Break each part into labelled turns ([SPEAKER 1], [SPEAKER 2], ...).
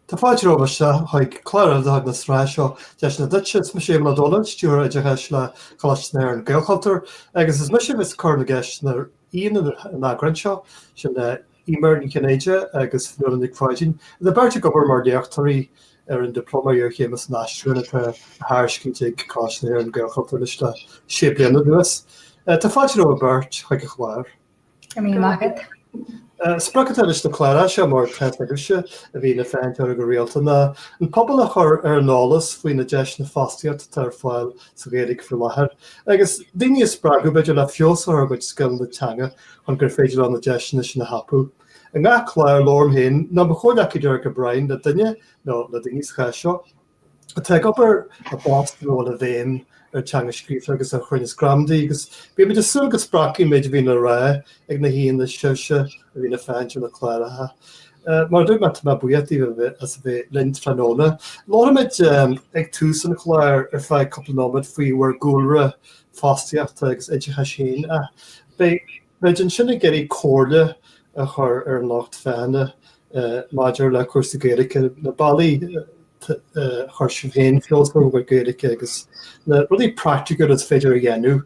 [SPEAKER 1] Tá fáilte romhaibh isteach chuig clár deireanach na sraithe seo Deis Nua Duitse. Is mise Éamonn Ó Dónaill, Stiúrthóir Oideachais le Coláiste na hÉireann, Gaelchultúr, agus is mise a bheas ag cur na gceisteanna ar aíonna an eagráin seo, sin Eimear Ní Chinnéide agus Fionnuala Nic Pháidín, iad beirt ag obair mar léachtóirí ar an Dioplóma Iarchéime san Aistriúchán atá á thairiscint ag Coláiste na hÉireann, Gaelchultúr anois le sé bliana anuas. Tá fáilte romhaibh beirt chuig an chlár. Go raibh míle maith agat. Sprioc atá leis na cláracha seo mar atá a fhios agaibhse a bhíonn ag féachaint orthu go rialta ná an pobal a chur ar an eolas faoi na deiseanna fostaíochta atá ar fáil sa Ghaeilge faoi láthair agus daoine a spreagadh b'fhéidir le feabhas a chur ar a gcuid scileanna teanga chun gur féidir leo na deiseanna sin a thapú. I ngach clár labhraím féin nó mo chomhghleacaí Derek O'Brien le duine nó le daoine sa chás seo. atá ag obair i bpost ina bhfuil an bhéim ar teanga scríofa agus ar chruinneas gramadaí agus bímid ag súil go spreagfaidh an méid a bhíonn le rá ag na haíonna sibhse a bhíonn ag féachaint ar na cláracha. Mar a dúirt mé, tá mé buíoch díbh as a bheith linn tráthnóna. Labhróimid ag tús an chláir ar feadh cúpla nóiméad faoi bhur gcúlra fostaíochta agus oideachais féin. Beidh Beidh muid ansin ag iarraidh comhairle a chur ar an lucht féachana maidir le cúrsaí Gaeilge, na bealaí ar chuir sibh féin feabhas ar bhur nGaeilge agus na rudaí praiticiúla is féidir a dhéanamh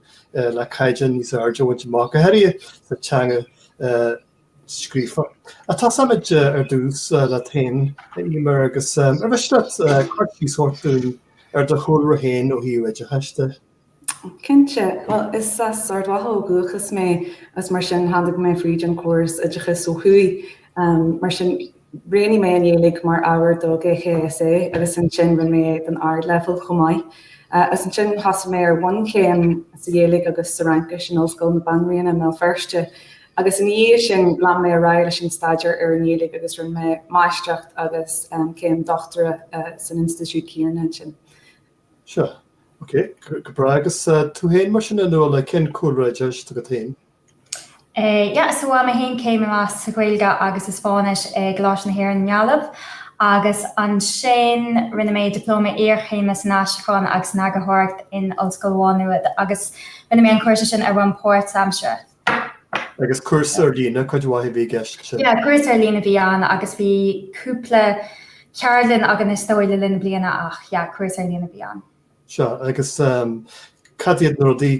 [SPEAKER 1] le caighdeán níos airde a bhaint amach, go háirithe sa teanga scríofa. Tosóimid ar dtús leat féin, Eimear, agus ar mhiste leat cur síos a thabhairt dúinn ar do chúlra féin ó thaobh oideachais de. Cinnte. Bhuel, is as Ard Mhacha ó dhúchas mé agus mar sin tháinig mé fríd an córas oideachais ó thuaidh. Mar sin, roghnaigh mé an Ghaeilge mar ábhar do GCSE agus ansin rinne mé é don Ardleibhéal chomh maith. Agus ansin thosaigh mé ar bhunchéim sa Ghaeilge agus sa Fhraincis in Ollscoil na Banríona i mBéal Feirste. Agus ina dhiaidh sin, lean mé ar aghaidh leis an staidéar ar an nGaeilge agus rinne mé máistreacht agus céim dochtúra san institiúid chéanna ansin. Sea. Ok, go breá agus tú féin mar sin a Fhionnuala, cén cúlra oideachais atá agat féin? Eh, yeah, so bhain mé féin céim amach sa Ghaeilge agus sa Spáinnis in Ollscoil na hÉireann, Gaillimh, agus ansin rinne mé Dioplóma Iarchéime san Aistriúchán agus san Eagarthóireacht in Ollscoil Mhá Nuad agus rinne mé an cúrsa sin ar bhonn páirt-aimseartha. Agus cúrsa ar líne, cuid mhaith a bhí i gceist sin? Yeah, cúrsa ar líne a bhí ann agus bhí cúpla ceardlann againn is dóigh le linn na bliana ach yeah, cúrsa ar líne a bhí ann. Sea, agus cad iad na rudaí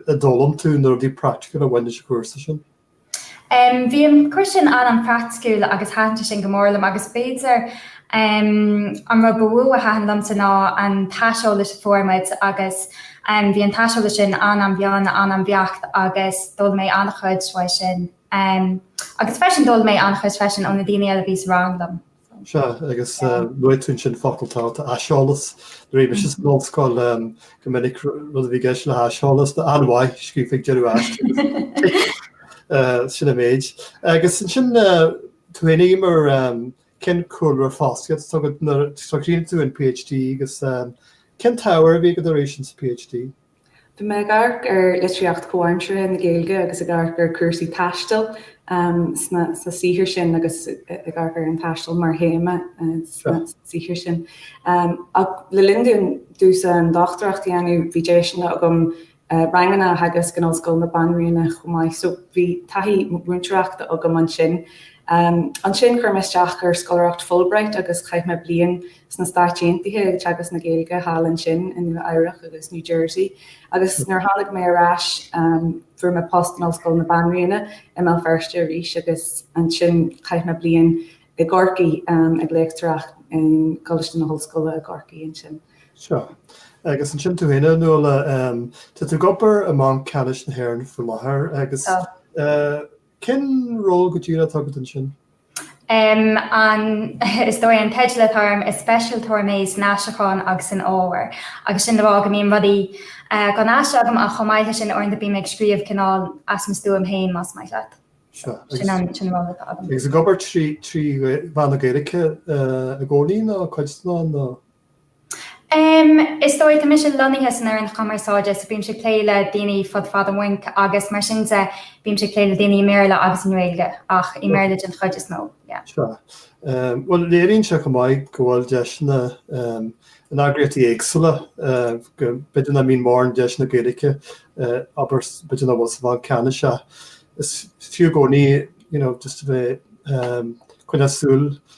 [SPEAKER 1] a d'fhoghlaim tú, na rudaí praiticiúla a bhain leis an chúrsa sin? Bhí an cúrsa sin an-praiticiúil agus thaitin sé sin go mór liom agus b'fhéidir An rud ba mhó a thaitin liomsa ná an t-aiseolas a fuair muid agus bhí an t-aiseolas sin an-an-mhion, an-an-bheacht agus d'fhoghlaim mé an-chuid uaidh sin. Agus freisin d'fhoghlaim mé an-chuid freisin ó na daoine eile a bhí sa rang liom. Sea, agus luaigh tú ansin focal tábhachtach, aiseolas. Nuair a bhí mise san ollscoil go minic rud a bhí i gceist le haiseolas, ná an-mhaith, scríofa ag deireadh aiste. Sin an méid. Agus ansin tú féin, Eimear, cén cúlra fostaíochta atá agat? So chríochnaigh tú an Ph D agus cén t-ábhar a bhí agat arís ins an Ph D? Bhí mé ag amharc ar litríocht chomhaimseartha na Gaeilge agus ag amharc ar cúrsaí taistil sna saothair sin agus ag amharc ar an taisteal mar théama sna saothair sin. Ach le linn domh domhsa an dochtúireacht a dhéanamh bhí deiseanna agam ranganna a theagasc in Ollscoil na Banríona chomh maith so bhí taithí mhúinteoireachta agam ansin. Ansin chuir mé isteach ar scoláireacht Fulbright agus chaith mé bliain sna Stáit Aontaithe ag teagasc na Gaeilge thall ansin i Nua Eabhrach agus New Jersey agus nuair a tháinig mé ar ais fuair mé post in Ollscoil na Banríona i mBéal Feirste arís agus ansin chaith mé bliain i gCorcaigh ag léachtareacht in gColáiste na hOllscoile i gCorcaigh ansin. Sea. Agus ansin tú féin, Nuala, tá tú ag obair i mBanc Ceannais na hÉireann faoi láthair agus Tá. cén ról go díreach atá agat ansin? Um, an, is dóigh an teideal atá orm, is speisialtóir mé san aistriúchán agus san ábhar. Agus sin le rá go mbíonn rudaí eh, á n-aistriú agam ach chomh maith leis sin uaireanta bím ag scríobh cineál as mo stuaim féin, más maith leat. Sea. Sin an, sin an rud atá agam. Agus ag obair trí, trí mheán na Gaeilge eh, i gcónaí nó cuid de nó? Em, Is dóigh, tá mise lonnaithe san fhoireann chumarsáide so bímse ag plé le daoine fud fad an bhainc agus mar sin de bímse ag plé le daoine i mBéarla agus i nGaeilge ach i mBéarla den chuid is mó, yeah. Sea. Bhuel, léiríonn sé chomh maith go bhfuil deiseanna in eagraíochtaí éagsúla, go b'fhéidir ná mbíonn mórán deiseanna Gaeilge abair b'fhéidir ná bhfuil sa Bhanc Ceannais ach is fiú i gcónaí, you know, just a bheith, em, ag coinneáil súil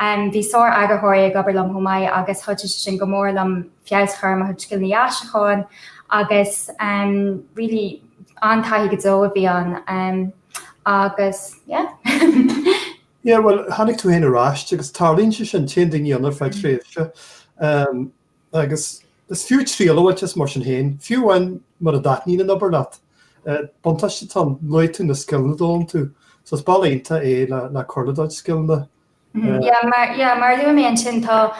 [SPEAKER 1] Bhí sár-eagarthóirí ag obair liom chomh maith agus chuidigh sé sin go mór liom feabhas a chur ar mo chuid scileanna aistriúcháin agus really an-taithí go deo a bhí ann agus yeah. Yeah, bhuel, tháinig tú féin ar ais agus tarlaíonn sé sin, téann daoine ann ar feadh tréimhse. Agus is fiú triail a bhaint as mar sin féin, fiú amháin mura dtaitníonn an obair leat. Buntáiste atá ann, luaigh tú na scileanna a d'fhoghlaim tú, so is bealach iontach é le cur le do chuid scileanna. Yeah, mar a luaigh mé ansin, tá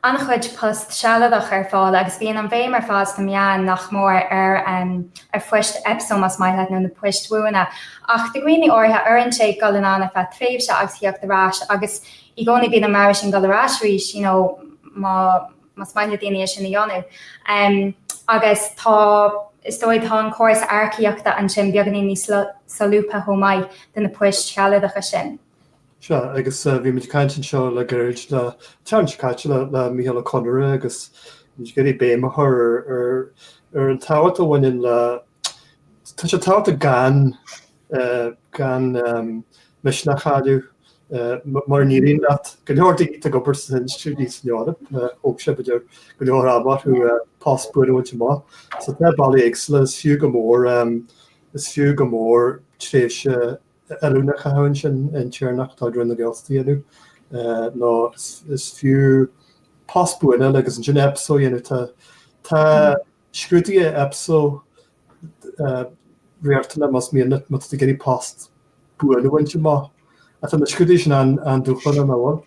[SPEAKER 1] an-chuid post sealadach ar fáil agus bíonn an bhéim ar fad sna meáin nach mór ar phoist EPSO más maith leat nó na poist bhuana. Ach do dhaoine áirithe, oireann sé dul anonn ar feadh tréimhse agus theacht ar ais agus, I gcónaí bíonn na bealaí sin dul ar ais arís you know más maith le daoine é sin a dhéanamh. Agus tá, is dóigh, tá an córas earcaíochta ansin beagáinín níos solúbtha chomh maith do na poist shealadacha sin. Sea, agus bhí muid ag caint anseo le gairid an tseachtain seo caite le Micheál Ó Conaire agus bhí muid ag iarraidh béim a chur ar an tábhacht a bhaineann le, tá sé tábhachtach gan, gan misneach a chailleadh mura n-éiríonn leat go leor daoine ag obair sna hinstiúidí san Eoraip thóg sé b'fhéidir go leor ama orthu post buan a bhaint amach so tá bealaí éagsúla is fiú go mór is fiú go mór tréimhse oiliúna a chaitheamh ansin intéirneacht de chuid Roinn na Gaeltachta a dhéanamh nó is fiú post a bhaint amach agus ansin EPSO a dhéanamh tá tá Scrúduithe Epso riachtanach más mian leat, má tá tú ag iarraidh post buan a bhaint amach. Ach tá na scrúduithe sin an-dúshlánach, an bhfuil?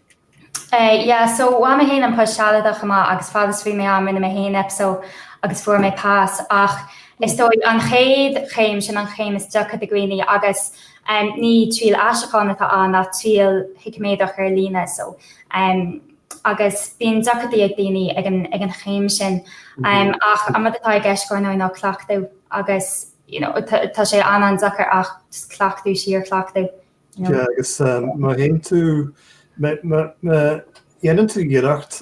[SPEAKER 1] Yeah, so bhain mé féin an post sealadach amach agus fad is a bhí mé ann rinne mé féin Epso agus fuair mé pas ach is dóigh an chéad chéim sin an chéim is deacra do dhaoine agus ní triail aistriúcháin atá ann ach triail shíciméadrach ar líne so agus bíonn deacrachtaí ag daoine ag an chéim sin ach an rud atá i gceist ar ndóigh ná cleachtadh agus you know tá sé an-deacair ach cleachtadh, síorchleachtadh. Sea, agus má théann tú, má dhéanann tú iarracht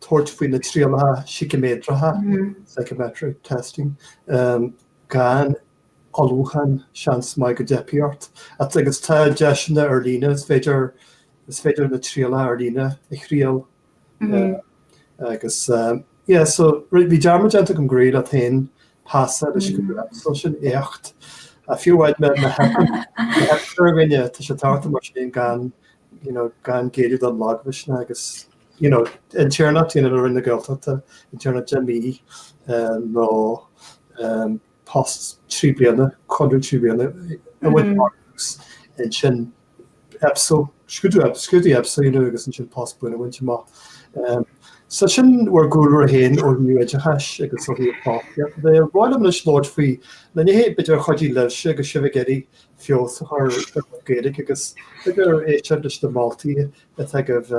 [SPEAKER 1] tabhairt faoi na trialacha síciméadracha, psychometric testing, gan Ullmhúchán, seans maith go dteipfidh ort. Agus tá deiseanna ar líne, is féidir, is féidir na trialacha ar líne a thriail. Agus yeah, so bhí dearmad déanta agam go raibh tú féin tar éis an scrúdú sin, éacht. Fiú amháin na heipitear againne, tá sé tábhachtach mar sin gan, you know, gan géilleadh don lagmhisneach agus, you know, intéirneacht, you know, le Roinn na Gaeltachta, intéirneacht deich mí nó post trí bliana, conradh trí bliana a bhaint amach agus ansin EPSO, scrúdú, scrúdú EPSO a dhéanamh agus ansin post buan a bhaint amach. So sin bhur gcúlra féin ó Thaobh Oideachais agus ó Thaobh fostaíochta de. Ba bhreá liom anois labhairt faoi na nithe b'fhéidir a chuidigh libhse agus sibh ag iarraidh feabhas a chur ar bhur gcuid Gaeilge agus b'fhéidir éisteacht leis na moltaí atá agaibh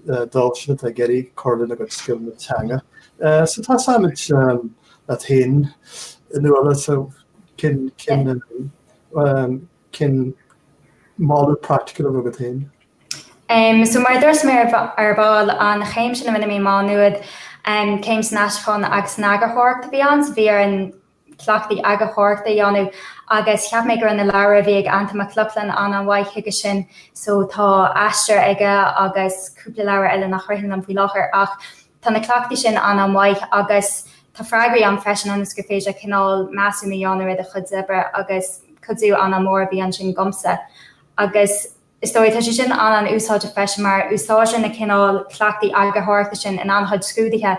[SPEAKER 1] dóibh siúd atá ag iarraidh cur lena gcuid scileanna teanga. So tosóimid leat féin a Nuala so cén moladh praiticiúil a bheadh agat féin? So mar a dúirt mé ar ball, an chéim sin a rinne mé, Má Nuad, céim san aistriúchán agus san eagarthóireacht a bhí ann, so bhí ar an cleachtaí eagarthóireachta a dhéanamh agus cheap mé go raibh na leabhair a bhí ag Antain Mac Lochlainn an-an-mhaith chuige sin so tá Aistear aige agus cúpla leabhar eile nach ritheann liom faoi láthair ach tá na cleachtaí sin an-an-mhaith agus tá freagraí ann freisin ionas gur féidir cineál measúnú a dhéanamh ar do chuid oibre agus cuidiú an-an-mhór a bhí ansin dhomsa agus Is dóigh, tá sé sin an-an-úsáideach freisin mar úsáideann na cineál cleachtaí eagarthóireachta sin in an-chuid scrúduithe,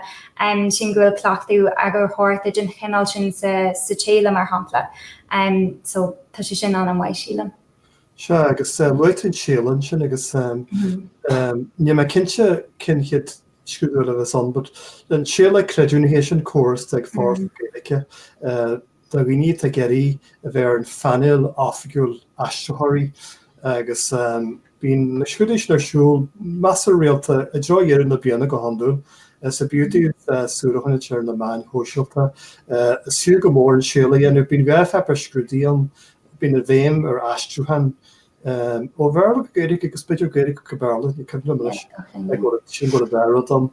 [SPEAKER 1] sílim go bhfuil cleachtadh eagarthóireachta den chineál sin sa tséala mar shampla. So, tá sé sin an-an mhaith sílim. Sea, agus luaigh tú an séala ansin agus níl mé cinnte cén chéad scrúdú eile a bheas ann but an séala creidiúnaithe sin córas atá ag Foras na Gaeilge do dhaoine atá ag iarraidh a bheith ar an phainéal oifigiúil aistritheoirí agus bíonn na scrúduithe sin ar siúl, measartha rialta, i dtreo dheireadh na bliana go hiondúil. So b'fhiú daoibh súil a choinneáil ar na meáin shóisialta is fiú go mór an séala a dhéanamh. Bíonn dhá pháipéar scrúdaithe ann, bíonn an bhéim ar aistriúchán, Ó Bhéarla go Gaeilge agus b'fhéidir Gaeilge go Béarla, ní cuimhin liom anois, sin rud a b'fhearra dom.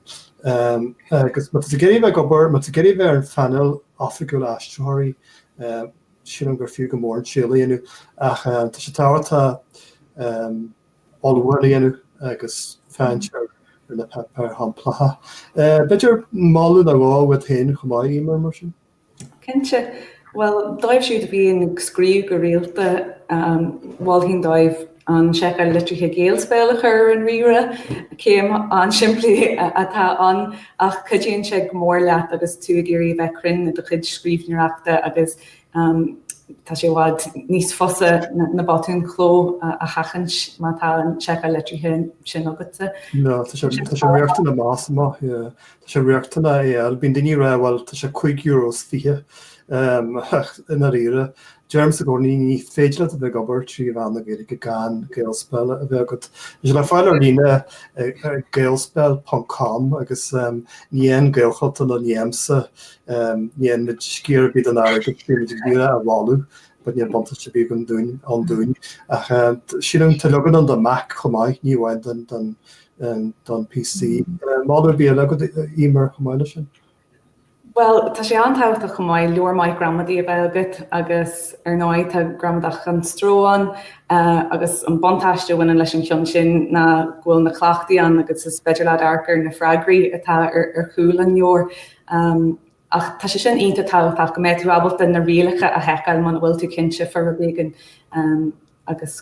[SPEAKER 1] Agus má tá tú ag iarraidh a bheith ag obair, má tá tú ag iarraidh a bheith ar an phainéal oifigiúil aistritheoirí, sílim gur fiú go mór an séala a dhéanamh ach tá sé tábhachtach ullmhú a dhéanamh agus féachaint ar na páipéir shamplacha. B'fhéidir moladh nó dhó uait féin chomh maith, Emer, mar sin? Cinnte. Bhuel, dóibh siúd a bhíonn ag scríobh go rialta, mholfainn dóibh an seiceáil litrithe Gaelspell a chur ar an ríomhaire. Céim an-simplí atá ann ach cuidíonn sé go mór leat agus tú ag iarraidh a bheith cruinn i do chuid scríbhneoireachta agus tá sé i bhfad níos fusa na botúin chló a sheachaint má tá an seiceáil litrithe sin agatsa. Tá sé riachtanach amach is amach. Tá sé riachtanach é a fháil. Bíonn daoine ag rá bhuel tá sé cúig euro is fiche ach i ndáiríre deirimse go ní féidir leat a bheith ag obair trí mheán na Gaeilge gan Gaelspell a bheith agat. Tá sé le fáil ar líne ar gaelspell.com agus ní fhaigheann Gaelchultúr ná ní fhaighimse ní fhaigheann muid sciar ar bith den airgead bíonn muid ag iarraidh a bhailiú but níl buntáiste ar bith agam dúinn ann dúinn ach sílim tá leagan ann do Mac chomh maith, ní amháin don don PC. Moladh ar bith eile agat Emer chomh maith leis sin? Bhuel, tá sé an-tábhachtach chomh maith, leabhar maith gramadaí a bheith agat agus ar ndóigh tá Gramadach gan Stró ann agus an buntáiste a bhaineann leis an cheann sin ná go bhfuil na cleachtaí ann agus is féidir leat amharc ar na freagraí atá ar chúl an leabhair. Ach tá sé sin iontach tábhachtach go mbeidh tú ábalta na rialacha a sheiceáil muna bhfuil tú cinnte fá rud éigin agus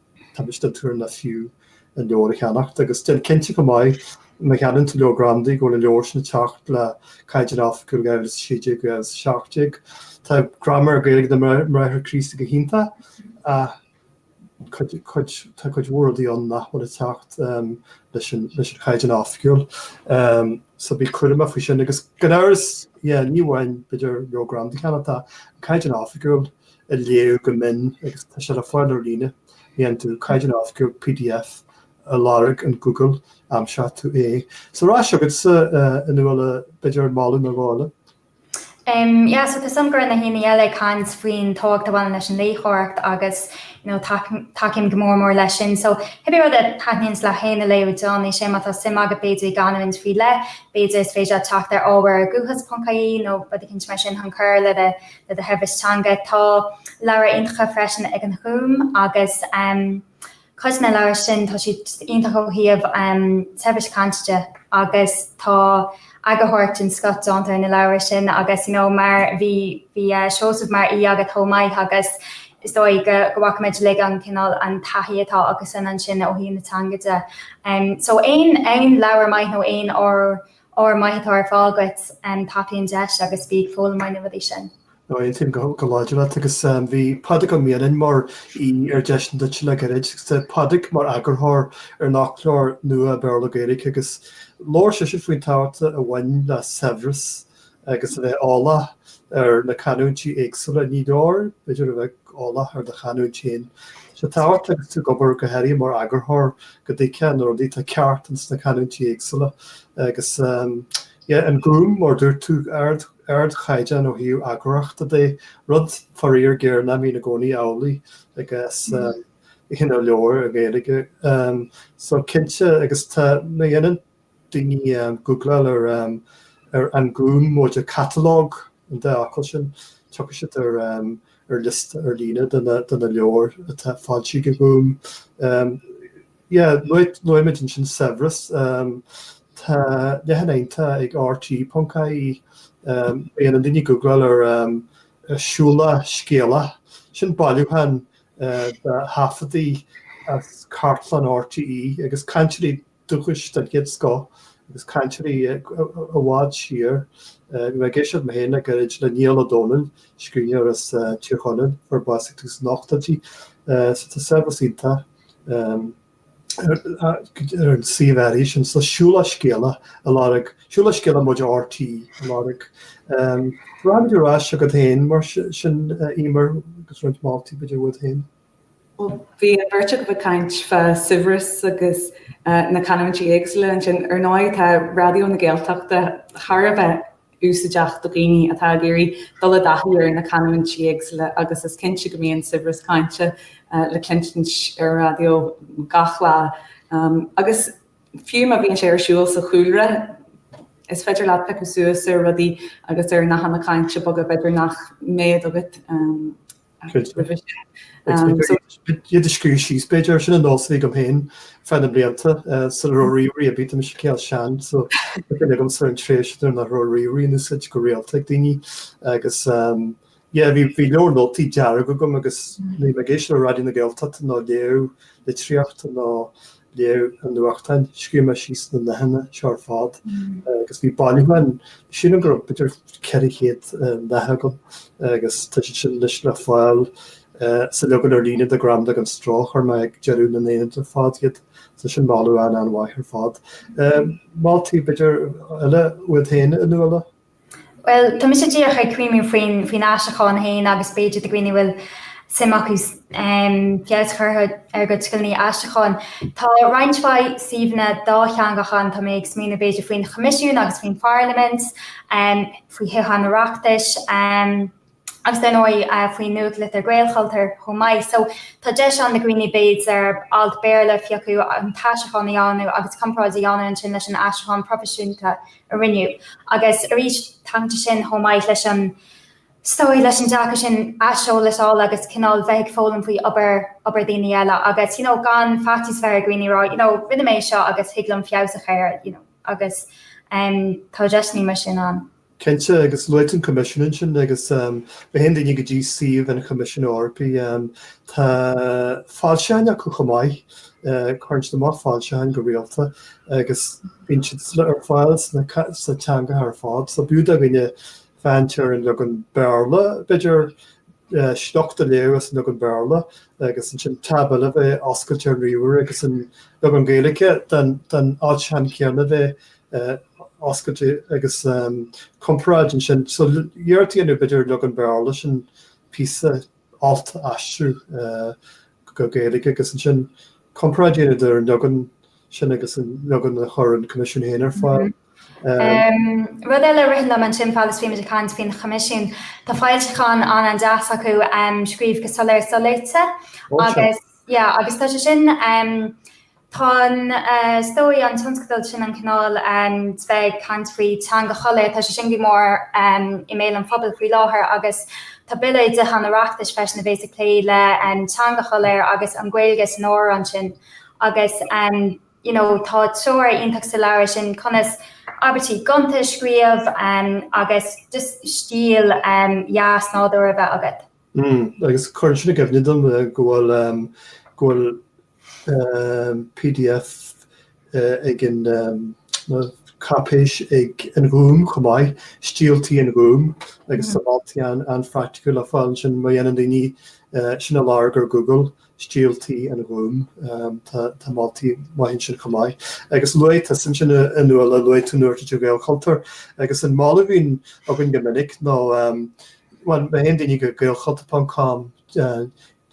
[SPEAKER 1] Tá mise den tuairim nach fiú an leabhar a cheannacht agus déan cinnte go maith má cheannaíonn tú leabhar Gramadaí go bhfuil an leabhar sin ag teacht le Caighdeán Oifigiúil 2016-2017. Tá graiméar Gaeilge na mBráithre Críostaí go hiontach ach tá cuid mhór rudaí ann nach bhfuil ag teacht leis an Chaighdeán Oifigiúil so bí cúramach faoi sin agus gan amhras ní amháin b'fhéidir leabhar Gramadaí a cheannacht ach Caighdeán Oifigiúil a léamh go mion agus tá sé le fáil ar líne. Má dhéanann tú Caighdeán Oifigiúil pdf a lorg in Google, aimseoidh tú é. So ar ais chugatsa a Nuala b'fhéidir ar mholadh nó dhó eile? Em, yeah, so tá a fhios agam go raibh na haíonna eile ag caint faoin tábhacht a bhaineann leis an léitheoireacht agus you know, tac- tacaím go mór mór leis sin. So cibé rud a thaitníonns leat féin a léamh, you know is é má tá suim agat b'fhéidir i gcanúint faoi leith, b'fhéidir is féidir leat teacht ar ábhar ar guthas.ie nó rud eicínt mar sin chun cur le do le do shaibhreas teanga. Tá leabhra iontacha freisin ag an Ghúm agus cuid de na leabhra sin tá siad iontach ó thaobh saibhreas cainte agus tá eagarthóireacht den scoth déanta ar na leabhra sin agus you know mar bhí bhí Seosamh mar aoi agat chomh maith agus is dóigh go bhfacaimid uilig an cineál an taithí atá aigesean ansin ó thaobh na teanga de. So aon aon leabhar maith nó aon Ábhar maith atá ar fáil agat, tapaigh an deis agus bí ag foghlaim ó na rudaí sin. Ó aontaím go láidir leat agus bhí Pádraig Ó Mianáin mar aoi ar Deiseanna Duit le gairid. Agus tá Pádraig mar eagarthóir ar an fhoclóir nua Béarla-Gaeilge agus labhair seisean faoin tábhacht a bhaineann le saibhreas agus a bheith eolach ar na canúintí éagsúla. Ní leor, b'fhéidir, a bheith eolach ar do chanúint féin. Tá sé tábhachtach agus tú ag obair, go háirithe mar eagarthóir, go dtuigfeá na rudaí atá ceart ins na canúintí éagsúla agus an Gúm, mar dúirt tú, ardchaighdeán ó thaobh eagarthóireachta de, rud, faraor géar, nach mbíonn i gcónaí amhlaidh i gcás na leabhar i nGaeilge. So, cinnte, agus tá, má dhéanann, daoine ag googláil ar An Gúm móide catalóg an dá fhocal sin, tiocfaidh siad ar liosta ar líne de na leabhair atá foilsithe ag an Gúm. Luaimid ansin saibhreas. Tá leathanach iontach ag RTÉ.ie. Má dhéanann daoine googláil ar Siúlach Scéalach. Sin bailiúchán de thaifeadtaí as cartlann RTÉ agus cainteoirí dúchais den chéad scoth agus cainteoirí i bhfad siar ag éisteacht mé féin le gairid le Niall Ó Dónaill, scríbhneoir as Tír Chonaill a bhásaigh ag tús na n-ochtóidí. So tá saibhreas iontach ar an suíomh áirithe sin so. Siúlach Scéalach a lorg, Siúlach Scéalach móide RTÉ a lorg. Rachaimid ar ais chugat féin mar sin, Emer, agus roinnt moltaí b'fhéidir uait féin. Bhí an bheirt agaibh ag caint fá shaibhreas agus na canúintí éagsúla ansin. Ar ndóigh tá Raidió na Gaeltachta thar a bheith úsaideach do dhaoine atá ag iarraidh dul i dtaithí ar na canúintí éagsúla agus is cinnte go mbíonn saibhreas cainte le cluinstin ar an raidió gach lá agus fiú má bhíonn sé ar siúl sa chúlra is féidir leat piocadh suas ar rudaí agus ar nathanna cainte beaga b'fhéidir nach mbeadh agat Iad a scríobh síos b'fhéidir, sin an nós a bhí agam féin feadh na mblianta, sula raibh ríomhairí ar bith, tá mise cineál sean so tá cuimhne agam ar an tréimhse nuair nach raibh ríomhairí in úsaid go rialta ag daoine agus yeah bhí leabhar nótaí dearg agam agus bhínn ag éisteacht le Raidió na Gaeltachta nó ag léamh litríochta nó léamh an nuachtáin, scríobh mé síos na nathanna seo ar fad agus bhí bailiúchán, sílim go raibh b'fhéidir ceithre chéad nath agam agus tá siad sin anois le fáil sa leagan ar líne de Gramadach gan Stró a chuir mé ag deireadh na n-aonad ar fad iad, tá sin mar mholadh an-an-mhaith ar fad. Moltaí b'fhéidir eile uait féin a Nuala? Bhuel, tá mise díreach ag cuimhniú faoin aistriúchán féin agus b'fhéidir do dhaoine a bhfuil suim acu feabhas a chur ar a gcuid scileanna aistriúcháin. Tá roinnt mhaith suíomhanna dátheangacha ann, tá mé ag smaoineamh b'fhéidir faoin Choimisiún agus faoin Pharlaimint, faoi Thithe an Oireachtais. agus ar ndóigh faoin nuachtlitir Gaelchultur chomh maith, so tá deis ann do dhaoine b'fhéidir alt Béarla a phiocadh, an t-aistriúchán a dhéanamh agus comparáid a dhéanamh ansin leis an aistriúchán proifisiúnta a rinneadh. Agus arís tagann sé sin chomh maith leis an, is dóigh, leis an dearcadh sin aiseolais a fháil agus cineál bheith ag foghlaim faoi obair, obair daoine eile agus you know gan faitíos a bheith ar dhaoine a rá you know rinne mé é seo agus thig liom feabhas a chur air you know agus tá deiseanna mar sin ann. Cinnte, agus luaigh tú an Coimisiún ansin, agus má théann daoine go dtí suíomh an Choimisiúin Eorpaigh. Tá foilseacháin acu chomh maith, cuireann siad amach foilseacháin go rialta agus bíonn siad ar fáil sna teangacha ar fad. So b'fhiú do dhaoine féachaint ar an leagan Béarla, b'fhéidir, sliocht a léamh as an leagan Béarla agus ansin tab eile bheith oscailte ar an ríomhaire agus an leagan Gaeilge den fhoilseachán céanna bheith oscailte agus comparáid ansin. So iarracht a dhéanamh b'fhéidir ón leagan Béarla ansin píosa, alt a aistriú go Gaeilge agus ansin comparáid a dhéanamh idir an leagan sin agus an leagan a chuir an Coimisiún féin ar fáil. Rud eile a ritheann liom ansin fad is atáimid ag caint faoin Choimisiún, tá foilseachán an-deas acu scríobh go soiléir soléite agus yeah agus tá sé sin Tá an Todhchaí, an tionscadal sin, an cineál ag caint faoi teanga shoiléir, tá sé sin go mór i mbéal an phobail faoi láthair agus tá bille i dTithe an Oireachtais freisin a bhéas ag plé le teanga shoiléir agus an Ghaeilge is mó ansin agus you know tá treoir iontach sa leabhar sin conas abairtí gonta a scríobh agus just stíl dheas nádúrtha a bheith agat. Umm. Agus cuireann sin i gcuimhne dom go bhfuil, ehm, go bhfuil, ehm, pdf ag an, ehm, nó cáipéis ag an Ghúm chomh maith, Stíl Tí an Ghúim, agus tá moltaí an-phraicticiúil le fáil ansin má dhéanann daoine, eh, sin a lorg ar Google. Stíl Tí an Ghúim. Tá moltaí maithe ansin chomh maith. Agus luaigh tú ansin a Nuala, luaigh tú nuachtlitir Gaelchultúr. Agus an moladh a bhíonn againn go minic nó má théann daoine go Gaelchultúr.com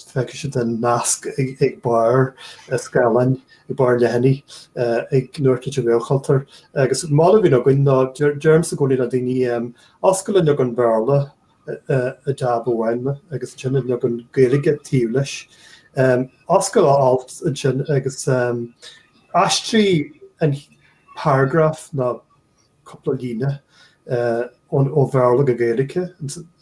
[SPEAKER 1] feicfidh siad an nasc ag barr an scáileáin, ag barr an leathanaigh ag nuachtlitir Gaelchultúr. Agus an moladh a bhíonn againn ná deirimse i gcónaí le daoine oscail an leagan Béarla i dtab amháin agus ansin an leagan Gaeilge taobh leis. Oscail a alt ansin agus aistrigh an paragraf nó cúpla líne ó Bhéarla go Gaeilge,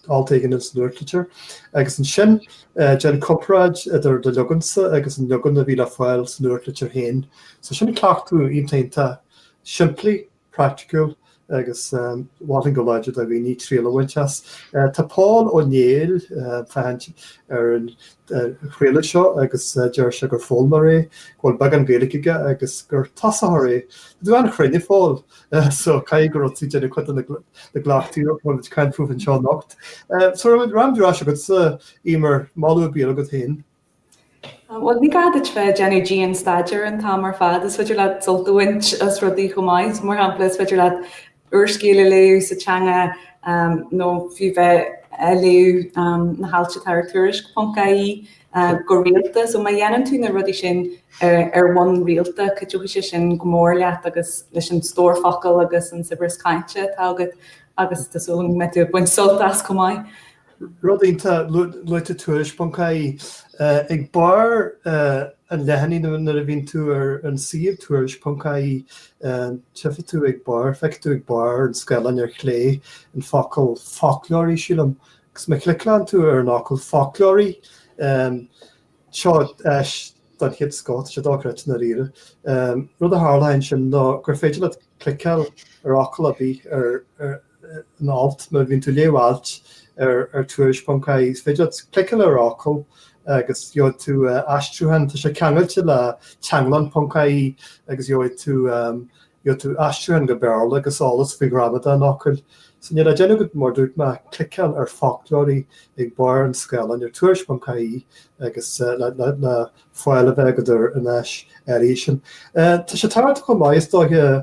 [SPEAKER 1] alt éigin ins an nuachtlitir, agus ansin déan comparáid idir do leagansa agus an leagan a bhí le fáil sa nuachtlitir féin. So sin cleachtadh iontach simplí praiticiúil agus mholainn go láidir do dhaoine triail a bhaint as. Tá Pól Ó Néill ag féachaint ar an chraoladh seo agus deir sé gur foghlaimeoir é, go bhfuil beagán Gaeilge aige agus gur tosaitheoir é. Tá tú an-chruinn a Phóil, so caithfidh go raibh tú ag déanamh cuid de na gcleachtaí a bhfuil muid ag caint fúthu anseo anocht. So an raibh rud ar bith le rá agatsa, Emer, moladh ar bith agat féin? Bhuel, ní gá duit bheith ag déanamh dian-staidéir an t-am ar fad, is féidir leat sult a bhaint as rudaí chomh maith. Mar shampla, is féidir leat úrscéal a léamh sa teanga nó fiú bheith ag léamh na hailt atá ar Tuairisc.ie go rialta, so má dhéanann tú na rudaí sin ar bhonn rialta, cuideoidh sé sin go mór leat agus leis an stór focal agus an saibhreas cainte atá agat agus tá súil agam go mbeidh tú ag baint sult as chomh maith. Rud iontach, luaigh tú tuairisc.ie, ag barr an leathanaigh nuair a bhíonn tú ar an suíomh tuairisc.ie tchífidh tú ag barr, feicfidh tú ag barr an scáileáin ar chlé an focal foclóirí sílim agus má chliceálann tú ar an fhocal foclóirí, seo áis don chéad scoth, tá sé dochreidte i ndáiríre, rud a tharlaíonn ansin ná gur féidir leat cliceáil ar fhocal ar bith ar an alt, nuair a bhíonn tú ag léamh ailt ar Tuairisc ponc ie is féidir leat cliceáil ar fhocal agus gheobhaidh tú aistriúchán, tá sé ceangailte le teanglann ponc ie agus gheobhaidh tú gheobhaidh tú aistriúchán go Béarla agus eolas faoi ghramadach an fhocail. So níl le déanamh agat mar dúirt mé, cliceáil ar foclóirí ag barr an scáileáin ar Tuairisc ponc ie agus le le le fáil a bheith agat ar an áis áirithe sin. Tá sé tábhachtach chomh maith is dóiche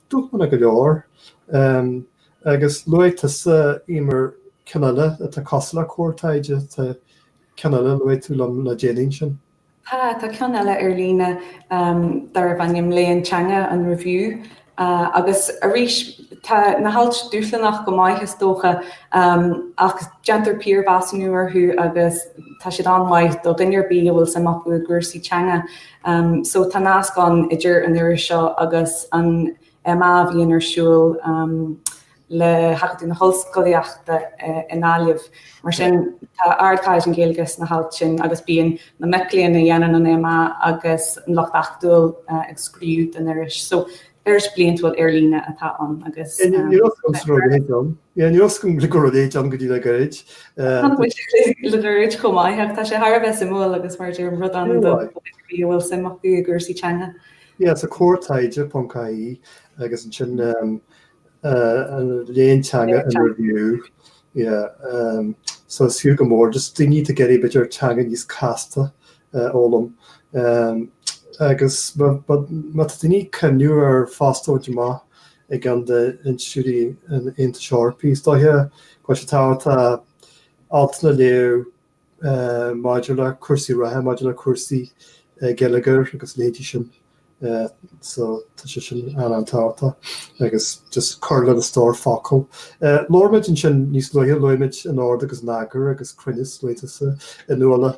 [SPEAKER 1] Dúshlánach go leor. Agus luaigh tusa Éamoinn ceann eile atá cosúil le Comhar Taighde. Tá ceann eile a luaigh tú liom le déanaí ansin. Tá, tá ceann eile ar líne darbh ainm Léann Teanga, An Reiviú. Agus arís, tá na hailt dúshlanach go maith is dócha ach déantar piarmheasúnú orthu agus tá siad an-mhaith do dhuine ar bith a bhfuil suim acu i gcúrsaí teanga. So tá nasc ann idir an iris seo agus an MA a bhíonn ar siúl le hAcadamh na hOllscolaíochta i nGaillimh. Mar sin tá ardchaighdeán Gaeilge sna hailt sin agus bíonn na mic léinn a dhéanann an MA agus an lucht acadúil ag scríobh don iris. So Iris bhliantúil ar líne atá ann agus. Níor éasca an sruth go léir dom. Níor éasca an gluigear go léir dom go dtí le gairid. Tá muid ag cloisteáil le gairid chomh maith ach tá sé thar a bheith suimiúil agus mar a deirim rud annamh do mhúinteoirí a bhfuil suim acu i gcúrsaí teanga. Yeah, so Comhar Taighde ponc ie agus ansin Léann Teanga, An Reiviú. Yeah, so is fiú go mór just daoine ag iarraidh píosa beag teanga níos casta. fhoghlaim agus má tá daoine ag cuimhneamh ar phost a bhaint amach i gceann d'institiúidí an Aontais Eorpaigh, is dóiche go bhfuil sé tábhachtach altanna a léamh maidir le cúrsaí reatha, maidir le cúrsaí geilleagair agus leithéidí sin. So tá sé sin an-tábhachtach agus just cur lena stór focal. Luaigh muid ansin níos luaithe, luaigh muid in ord agus in eagar agus cruinneas le hAntain Mac Lochlainn.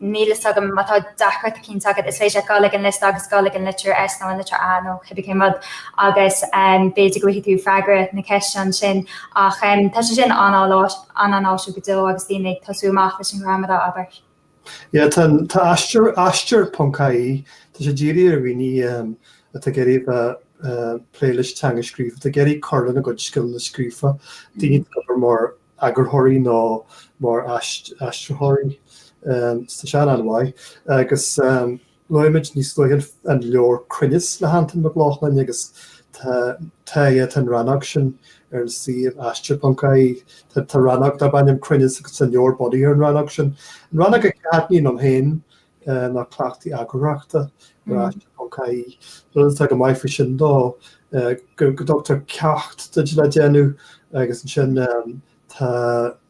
[SPEAKER 1] Níl a fhios agam má tá deacracht éicint agat, is féidir leat gabháil ag an liosta agus dul ag an litir S nó an litir A nó cibé cén rud agus b'fhéidir go bhfaighidh tú freagra na ceiste ansin. Ach tá sé sin an-an-áisiúil go deo agus daoine ag tosú amach leis an ghramadach, abair. Yeah, tá tá Aistear Aistear ponc ie, tá sé dírithe ar dhaoine atá ag iarraidh a bheith ag plé leis an teanga scríofa, atá ag iarraidh cur lena gcuid scileanna scríofa, daoine ag obair mar eagarthóirí nó mar aistritheoirí sa seanam uaidh agus luaigh muid níos luaithe an leabhar Cruinneas le hAntain Mac Lochlainn agus tá an rannóg sin ar an suíomh Aistear.ie. Tá rannóg darb ainm Cruinneas agus tá an leabhar bunaithe ar an rannóg sin. An rannóg a thaitníonn liom féin ná cleachtaí eagarthóireachta ar aistear.ie. Rud atá go maith faoi sin ná go dtugtar ceacht duit le déanamh agus ansin tá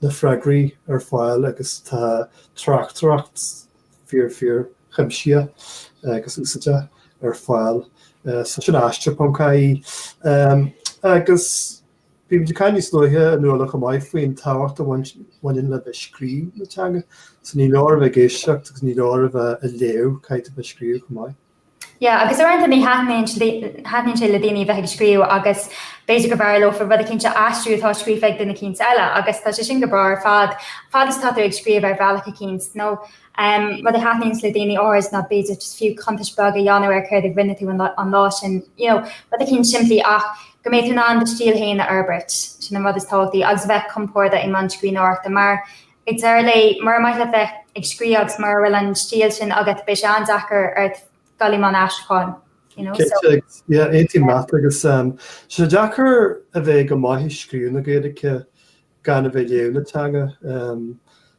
[SPEAKER 1] na freagraí ar fáil agus tá tráchtaireacht fíor fíor chuimsitheach agus úsáideach ar fáil so sin aistear.ie. Agus. Bhí muid ag caint níos luaithe inniu chomh maith faoin tábhacht a bhaineann le bheith ag scríobh i dteanga. So ní leor a bheith ag éisteacht agus ní leor a bheith ag léamh, caithfidh tú bheith ag scríobh chomh maith. Yeah, agus uaireanta ní thaitníonn sé le daoine a bheith ag scríobh agus b'fhéidir gurbh fhearr leofa rud eicínt a aistriú atá scríofa ag duine eicínt eile agus tá sé sin go breá ar fad, fad is atá tú ag scríobh ar bhealach eicínt. Nó um rud a thaitníonns le daoine áirid ná b'fhéidir just fiú cuntas beag a dhéanamh ar céard a rinne tú an lá sin, you know, rud eicínt simplí ach Go mbeidh tú in ann do stíl fhéin a fhorbairt, sin an rud is tábhachtaí, agus a bheith compordach i mbun scríbhneoireachta, mar, ag deireadh lae, mura maith leat bheith ag scríobh agus mura bhfuil an stíl sin agat, beidh sé an-deacair ort dul i mbun aistriúcháin, you know, so. Yeah, aontaím leat, agus tá sé deacair a bheith go maith ag scríobh na Gaeilge gan a bheith ag léamh na teanga,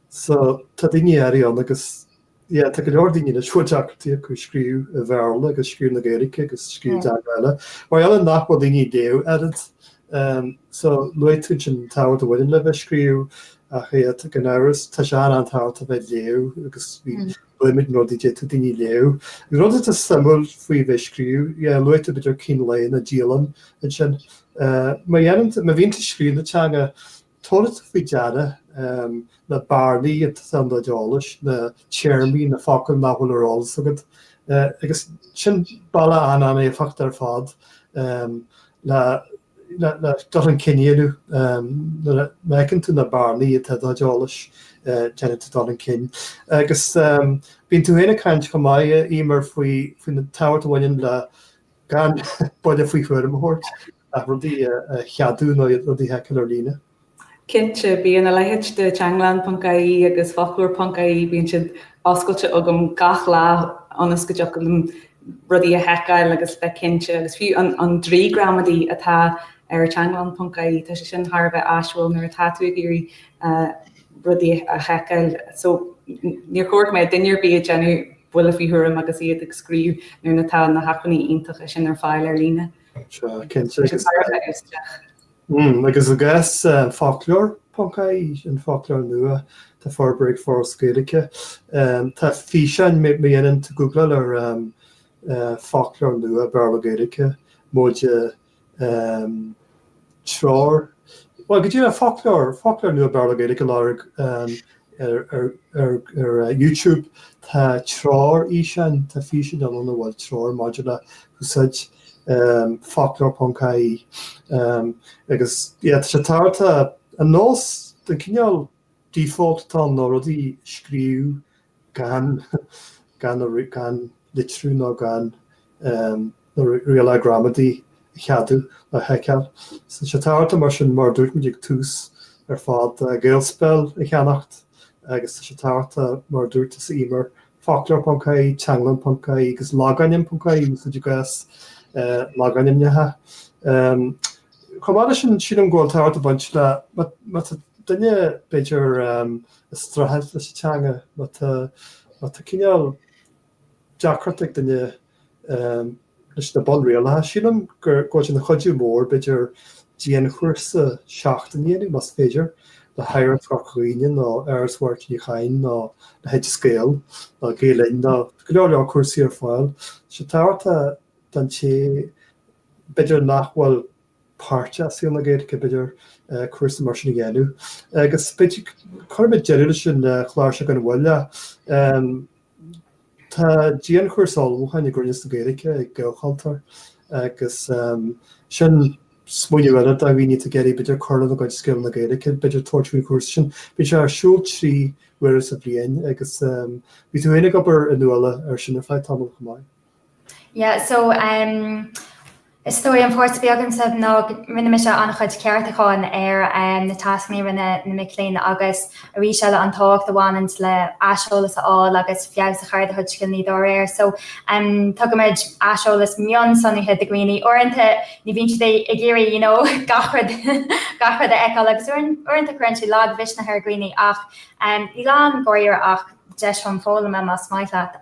[SPEAKER 1] so, tá daoine áirithe ann agus. Yeah tá go leor daoine a bhfuil deacrachtaí acu scríobh i mBéarla agus scríobh na Gaeilge agus scríobh i dteanga eile. Mar gheall nach bhfuil daoine ag léamh oiread so luaigh tú ansin an tábhacht a bhaineann le bheith ag scríobh ach gan amhras tá sé an-an-tábhachtach a bheith ag léamh agus molaimid i gcónaí do dhaoine léamh. An rud atá suimiúil faoi bheith ag scríobh, yeah luaigh tú b'fhéidir cín lae nó dialann ansin. Má dhéanann tú, má bhíonn tú ag scríobh na teanga Tabharfaidh tú faoi deara na bearnaí atá i do chuid eolais, na téarmaí, na focail nach bhfuil ar eolas agat, agus sin bealach an-an-éifeachtach ar fad le dul chun cinn a dhéanamh. Nuair a fheiceann tú na bearnaí atá i do chuid eolais, déanann tú dul chun cinn. Agus bíonn tú ag caint chomh maith, Emer, faoin faoin tábhacht a bhaineann le gan buille faoi thuairim a thabhairt. Ach rudaí a cheadú nó rudaí a sheiceáil ar líne? Cinnte, bíonn a leithéid de teanglann.ie agus Foclóir.ie, bíonn siad oscailte agam gach lá ionas go dtiocfadh liom rudaí a sheiceáil agus bheith cinnte. Agus fiú an draoi gramadaí atá ar teanglann.ie, tá sé sin thar a bheith áisiúil nuair atá tú ag iarraidh rudaí a sheiceáil. So, níor chóir go mbeadh duine ar bith ag déanamh buille faoi thuairim agus iad ag scríobh nuair atá na hacmhainní iontacha sin ar fáil ar líne. So cinnte. Agus i gcás Foclóir.ie, an foclóir nua atá forbartha ag Foras na Gaeilge, tá físeáin má dhéanann tú google ar foclóir nua Béarla-Gaeilge móide treoir. Bhuel, go deimhin, foclóir, foclóir nua Béarla-Gaeilge lorg é ar, ar, ar, ar uh, YouTube. Tá treoir fhíseáin, tá físeáin ann ina bhfuil treoir maidir le úsáid um, foclóir.ie. Um, agus, yeah, tá sé tarraingthe an nós den cineál default atá ná rudaí a scríobh gan gan gan litriú nó gan na rialacha gramadaí a cheadú nó a sheiceáil. Tá sé tábhachtach mar sin mar a dúirt muid ag tús ar fad GaelSpell a cheannach agus tá sé tábhachtach mar a dúirt tusa Emer foclóir.ie, teanglann.ie agus logainm.ie úsáid i gcás logainmneacha. Chomh maith le sin, sílim go bhfuil tábhacht ag baint le, má tá duine b'fhéidir ag streachailt leis an teanga, má tá cineál deacracht ag duine leis na bunrialacha, sílim go bhfuil sé ina chuidiú mór b'fhéidir dianchúrsa seachtaine a dhéanamh, más féidir, le hOidhreacht Chorca Dhuibhne nó Áras Mháirtín Uí Chadhain nó le hOideas Gael nó Gael Linn nó go leor leor cúrsaí ar fáil. Tá sé tábhachtach don té b'fhéidir nach bhfuil páirteach i saol na Gaeilge, b'fhéidir, cúrsa mar sin a dhéanamh. Agus b'fhéidir, cuirfimid deireadh leis an gclár seo gan mhoill. Tá dianchúrsa ullmhúcháin i gCruinneas na Gaeilge ag Gaelchultúr agus sin smaoineamh eile do dhaoine atá ag iarraidh b'fhéidir cur lena gcuid scileanna Gaeilge, b'fhéidir tabhairt faoin chúrsa sin. Bíonn sé ar siúl trí huaire sa bhliain agus bhí tú féin ag obair, a Nuala, air sin ar feadh tamall chomh maith. Yeah so umm is dóigh an pháirt bhí agamsa ná go ndearna mise an chuid ceartúcháin ar umm na tascanna a rinne na mic léinn agus arís eile an tábhacht a bhaineann le aiseolas a fháil agus feabhas a chur ar do chuid scileanna dá réir so umm tugaimid aiseolas mionsonraithe do dhaoine uaireanta ní bhíonn siad ag iarraidh you know gach rud gach rud a fheiceáil agus uaireanta cuireann sé lagmhisneach ar dhaoine ach umm ní lán dáiríre ach deis chun foghlama más maith leat.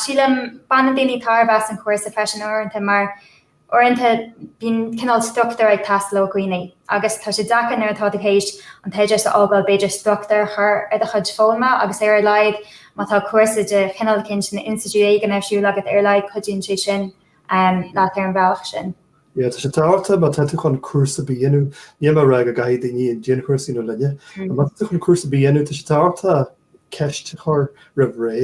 [SPEAKER 1] Sílim baineann daoine tairbhe as an chúrsa freisin uaireanta mar uaireanta bíonn cineál struchtúr ag teastáil ó dhaoine agus tá sé deacair nuair atá tú tar éis an t-oideachas a fhágáil b'fhéidir struchtúr a chur ar do chuid foghlama agus ar a laghad má tá cúrsa de chineál éicint in institiúid éigin ar siúl agat ar a laghad cuidíonn sé sin leat ar an bhealach sin. Tá sé tábhachtach má tá tú chun cúrsa ar bith a dhéanamh, níl mé ag rá go gcaithfidh daoine an dianchúrsa a dhéanamh linne, ach má tá tú chun cúrsa ar bith a dhéanamh tá sé tábhachtach ceist a chur roimh ré,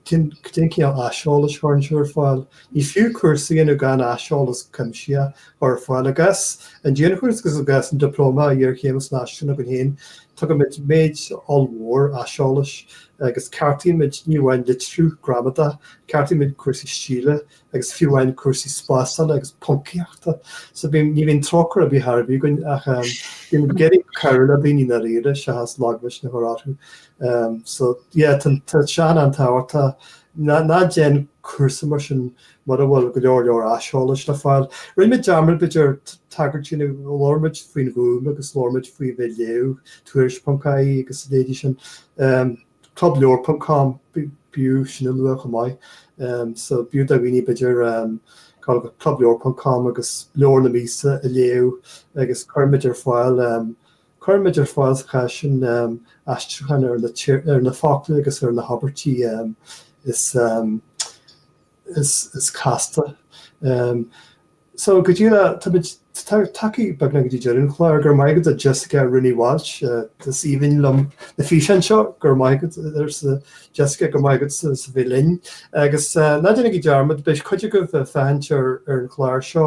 [SPEAKER 1] cén cineál aiseolais a chuireann tú ar fáil? Ní fiú cúrsa a dhéanamh gan aiseolas cuimsitheach a chur ar fáil. I gcás an dianchúrsa agus i gcás an Dioplóma Iarchéime san Aistriúchán againn féin, tugaimid méid ollmhór aiseolais agus ceartaímid ní amháin litriú, gramadach, ceartaímid cúrsaí stíle, agus fiú amháin cúrsaí spásála agus poncaíochta. So bhí, ní bhíonn trócaire ar bith ar bith againn ach bhí muid ag iarraidh cabhrú le daoine ndáiríre, seachas lagmhisneach a chur orthu. So yeah, tá, tá sé an-tábhachtach, tá, ná, ná déan cúrsa mar sin mura bhfuil go leor, leor aiseolais le fáil. Rinne muid dearmad b'fhéidir tagairt, nó labhair muid faoin Ghúm agus labhair muid faoi bheith ag léamh, tuairisc.ie agus a leithéidí sin. clubleabhar ponc com b'fhiú sin a lua chomh maith so b'fhiú do dhaoine b'fhéidir gabháil go clubleabhar ponc com agus leabhar na míosa a léamh agus cuirimid ar fáil cuirimid ar fáil sa chás sin aistriúcháin ar na focla agus ar na habairtí is is casta. So go díreach táimid tagtha beagnach go dtí deireadh an chláir, go raibh maith agat a Jessica Rainey Walsh. Is aoibhinn liom na físeáin seo, go raibh maith agat arsa Jessica, go raibh maith agat as a bheith linn. Agus ná déanaigí dearmad, beidh cuid agaibh ag féachaint ar an gclár seo.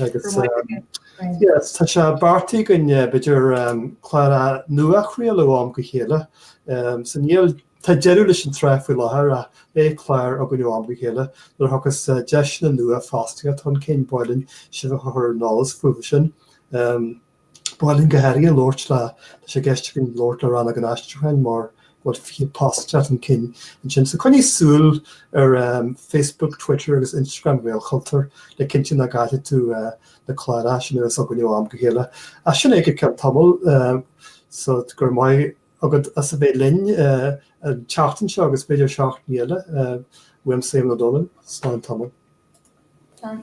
[SPEAKER 1] agus tá sé beartaithe againn b'fhéidir clár nua a chraoladh ó am go chéile so níl tá deireadh leis an tsraith faoi láthair ach beidh clár againn ó am go chéile nuair a thiocfas deiseanna nua fostaíochta chun cinn b'áil linn sibh a chur ar an eolas fúthu sin. B'áil linn go háirithe labhairt le, tá sé i gceist againn labhairt le Rannóg an Aistriúcháin mar go bhfuil 20 post le teacht chun cinn ansin. So coinnígí súil ar Facebook, Twitter agus Instagram Ghaelchultúir le cinntiú nach gcaillfidh tú na cláracha sin a bheas againn ó am go chéile. Ach sin é go ceann tamaill, so go raibh maith agat as a bheith linn an tseachtain seo agus b'fhéidir seachtainí eile. Uaimse, Éamonn Ó Dónaill, slán tamall. Slán.